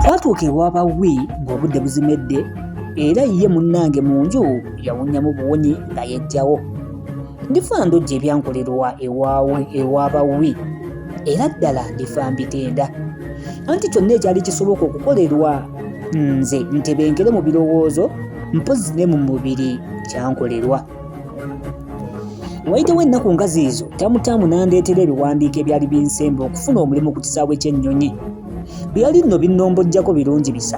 twatuuka ewa bawi ng'obudde buzimedde era ye munnange mu nju yawunyamu buwunyi nga yejjawo ndifa ndojja ebyankolerwa ewaawe ewa bawi era ddala ndifa mbitenda anti kyonna ekyali kisoboka okukolerwa nze ntebenkere mu birowoozo mpozi ne mu mubiri kyankolerwa wayitewo ennaku nga ziizo tamutaamu n'andeetera ebiwandiiko ebyali binsemba okufuna omulimu ku kisaawe ky'ennyonyi byali nno binnombojjako birungi bisa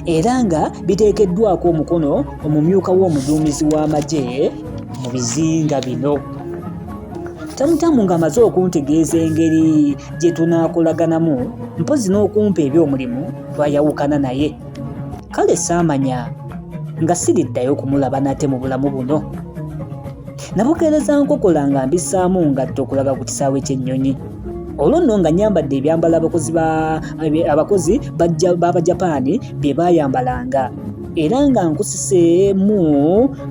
era nga biteekeddwako omukono omumyuka w'omuduumizi w'amagye mu bizinga bino tamutamu ng'amaze okuntegeeza engeri gye tunaakolaganamu mpozi n'okumpa eby'omulimu twayawukana naye kale saamanya nga siriddayo kumulaba nate mu bulamu buno nabukeereza nkokola nga mbisaamu ngatto okulaga ku kisaawe ky'ennyonyi olwo nno nga nyambadde ebyambalo abakozi abakozi b'abajapaani bye baayambalanga era nga nkusiseemu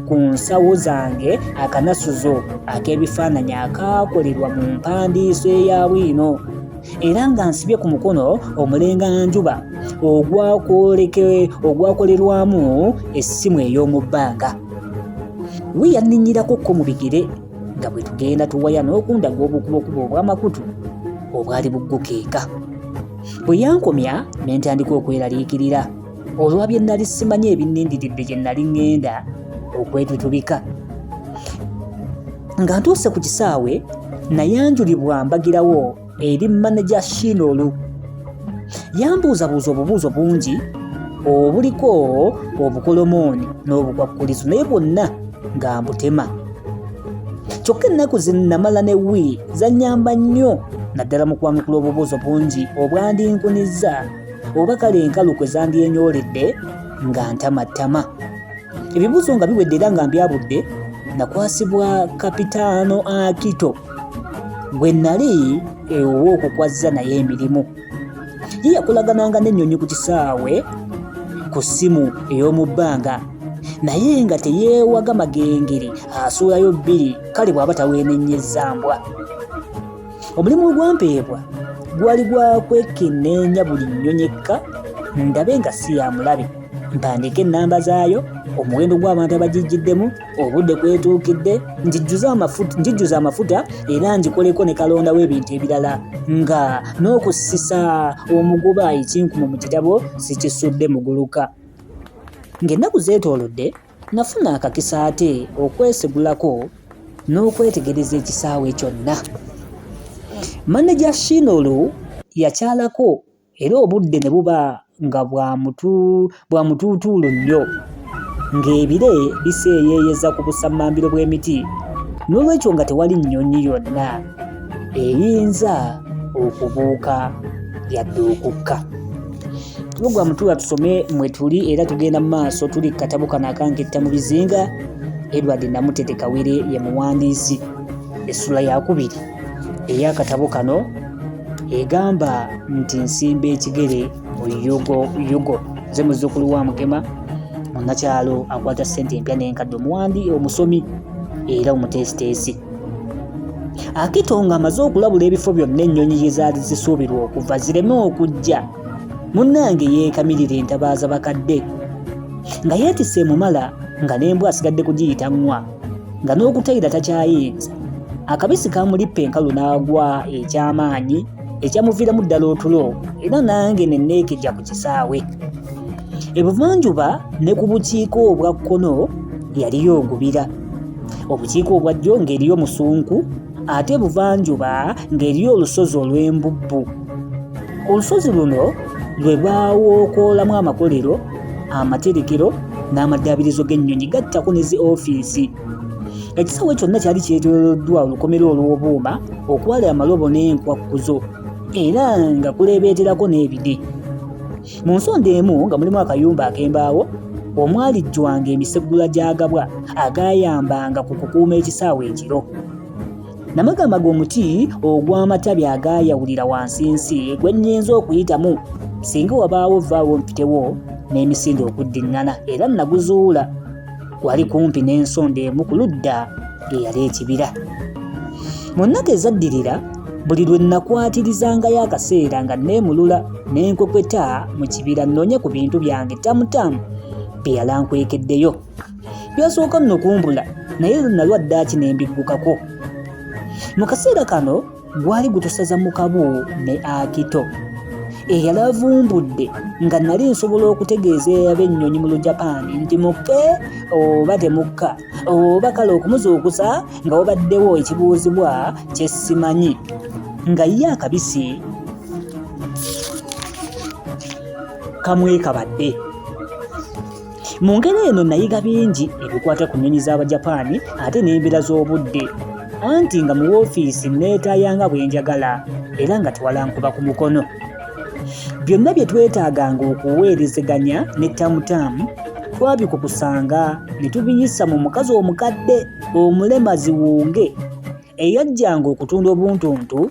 ku nsawo zange akanasuzo ak'ebifaananyi akaakolerwa mu mpandiiso eya bwino era nga nsibye ku mukono omulenga njuba ogwakolerwamu essimu ey'omu bbanga we yanninyirako ko mu bigere nga bwe tugenda tuwaya n'okundaga obukubokubo obw'amakutu obwali buggukeeka bwe yankomya ne ntandika okweraliikirira olwa bye nnali simanyi ebinnindiridde gye nnali ŋŋenda okwetutubika nga ntuuse ku kisaawe nayanjulibwa mbagirawo eri maneja shiinolu yambuuzabuuza obubuuzo bungi obuliko obukolomooni n'obukwakkulizo naye bwonna nga mbutema kyokka ennaku zinamala ne wii zanyamba nnyo naddala mu kwanukula obubuuzo bungi obwandinkunizza oba kale enkalu kwe zandyenyooledde nga ntamattama ebibuuzo nga biwedde era nga mbyabudde nakwasibwa kapitaano akito gwe nali ewowa okukwazza naye emirimu ye yakolagananga n'ennyonyi ku kisaawe ku ssimu ey'omu bbanga naye nga teyeewaga magengere asuulayo bbiri kale bw'aba taweenennyezza mbwa omulimu ogwampeebwa gwali gwa kwekenneenya buli nnyonyi ekka ndabe nga si ya mulabe mpandiika ennamba zaayo omuwendo gw'abantu abagijjiddemu obudde kwetuukidde ngijjuza amafuta era ngikoleko ne kalonda w'ebintu ebirala nga n'okusisa omuguba ekinkumu mu kitabo sikisudde muguluka ng'ennaku zeetoolodde Nafuna akakisa ate okwesigulako n'okwetegereza ekisaawe kyonna. Maneja Shinolu yakyalako era obudde ne buba nga bwa mutuutuulu nnyo ng'ebire biseeyeeyeza ku busammambiro bw'emiti n'olwekyo nga tewali nnyonyi yonna eyinza okubuuka yadde okukka. Lugwa mutuula tusome mwe tuli era tugenda mu maaso tuli katabo kano akanketta mu bizinga Edward Namutete Kawere ye muwandiisi essula yakubiri ey'akatabo kano egamba nti nsimba ekigere mu yugo yugo nze muzzukulu wa mugema munnakyalo akwata ssente empya n'enkadde omuwandi omusomi era omuteesiteesi akito ng'amaze okulabula ebifo byonna ennyonyi gye zaali zisuubirwa okuva zireme okujja munnange yeekamirira entabaaza bakadde nga yeetisse emumala nga n'embwa asigadde kugiyita ŋŋwa nga n'okutayira takyayinza akabisi kamulippa enkalu n'agwa eky'amaanyi ekyamuviiramu ddala otulo era nange ne neekejja ku kisaawe ebuvanjuba ne ku bukiiko obwa kkono yaliyo ogubira obukiiko obwa ddyo ng'eriyo musunku ate buvanjuba ng'eriyo olusozi olw'embubbu olusozi luno lwe baawookoolamu amakolero amaterekero n'amaddaabirizo g'ennyonyi gattako ne zi ofiisi ekisaawe kyonna kyali kyetooloddwa olukomera olw'obuuma okwali amalobo n'enkwakkuzo era nga kuleebeeterako n'ebide Mu nsonda emu nga mulimu akayumba ak'embaawo omwalijjwanga emiseggula gy'agabwa agaayambanga ku kukuuma ekisaawe ekiro. Namagamba g'omuti ogw'amatabi agaayawulira wansi nsi gwe nnyinza okuyitamu singa wabaawo vvaawo mpitewo n'emisinde okuddiŋŋana era naguzuula. wali kumpi n'ensonda emu ku ludda lwe yali ekibira mu nnaku ezaddirira buli lwe nnakwatirizangayo akaseera nga nneemulula n'enkokweta mu kibira nnoonye ku bintu byange tamutamu bye yalankwekeddeyo byasooka nno kumbula naye nalwa ddaaki ne mbiggukako mu kaseera kano gwali gutusaza mu kabu ne akito eyali avumbudde nga nali nsobola okutegeeza eyaba ennyonyi mu lujapaani nti mukke oba temukka oba kale okumuzuukusa nga wabaddewo ekibuuzibwa kyesimanyi nga ye akabisi kamwekabadde Mu ngeri eno nayiga bingi ebikwata ku nnyonyi z'Abajapaani ate n'embeera z'obudde anti nga mu woofiisi nneetaaya nga bwe njagala era nga tewalankuba ku mukono. Byonna bye twetaaganga okuweerezeganya ne tamutaamu twabikukusanga ne tubiyisa mu mukazi omukadde omulema ziwunge eyajjanga okutunda obuntuntu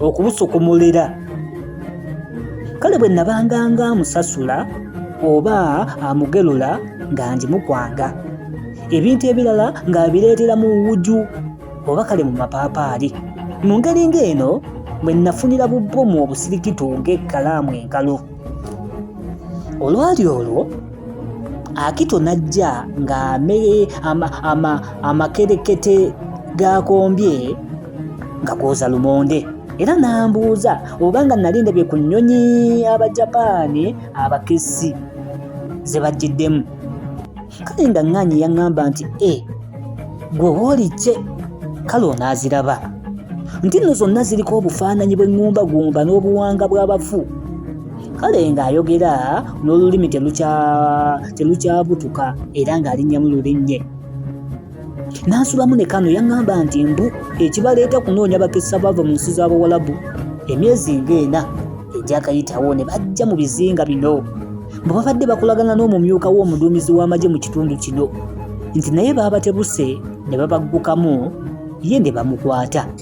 okubusukumulira kale bwe nabanganga amusasula oba amugelula nga ngimukwanga ebintu ebirala ng'abireetera mu wuju oba kale mu mapaapaali mu ngeri ng'eno bwe nafunira bubbomu obusirikitu ng'ekkalaamu enkalu olwali olwo akito najja ng'amere amakerekete g'akombye nga kwoza lumonde era n'ambuuza oba nga nali ndabye ku nnyonyi abajapaani abakessi ze bajjiddemu kale nga ŋŋaanyi yaŋŋamba nti e gwe wooli kye kale onaaziraba nti nno zonna ziriko obufaananyi bw'eŋŋumbagumba n'obuwanga bw'abafu kale ng'ayogera n'olulimi telukyabutuka era ng'alinnyamu lulinnye n'asulamu ne kano yaŋŋamba nti mbu ekibaleeta kunoonya bakisa baava mu nsi z'abawalabu emyezi ng'ena egyakayitawo ne bajja mu bizinga bino bwe babadde bakolagana n'omumyuka w'omuduumizi w'amagye mu kitundu kino nti naye baabatebuse ne babaggukamu ye ne bamukwata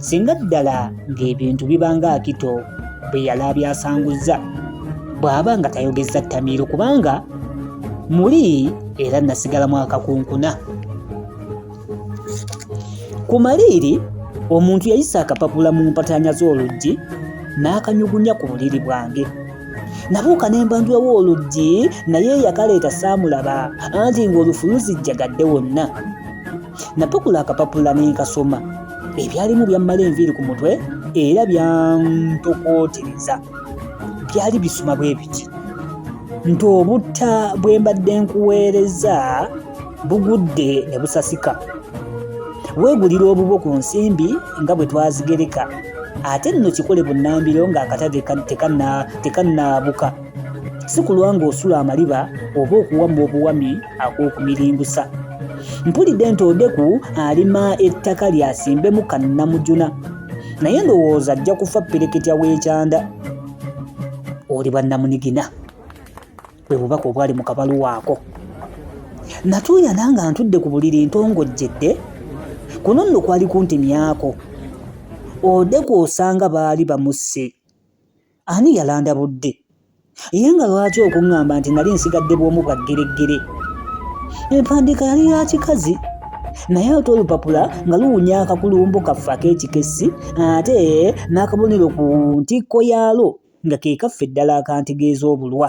singa ddala ng'ebintu bibanga akito bwe yali abyasanguzza bw'aba nga tayogezza ttamiiro kubanga muli era nasigalamu akakunkuna ku maliiri omuntu yayisa akapapula mu mpataanya z'oluggi n'akanyugunya ku buliri bwange nabuuka ne mbanjulawo oluggi naye yakaleeta saamulaba anti ng'olufuluzi jjagadde wonna Natukula akapapula ne nkasoma. Ebyalimu byammala enviiri ku mutwe era byantokootereza. Byali bisoma bwe biti nti obutta bwe mbadde nkuweereza bugudde ne busasika. Weegulira obubwo ku nsimbi nga bwe twazigereka ate nno kikole bunnambiro ng'akatale tekannaabuka. Si kulwa ng'osula amaliba oba okuwamma obuwami. ag'okumiringusa mpulidde nti odeku alima ettaka lyasimbemu kannamujuna naye ndowooza ajja kufa pereketya w'ekyanda oli bannamunigina bwe bubaka obwali mu kabaluwaako natuuyana nga ntudde ku buliri ntongojjedde kuno nno kwali kuntemyako odeku osanga baali bamusse ani yalandabudde ye nga lwaki okuŋŋamba nti nali nsigadde bw'omu bwa ggereggere empandiika yali ya kikazi naye ate olupapula nga luwunya akakulumbo kaffe ak'ekikessi ate n'akabonero ku ntikko yaalwo nga ke kaffe ddala akantegeeza obulwa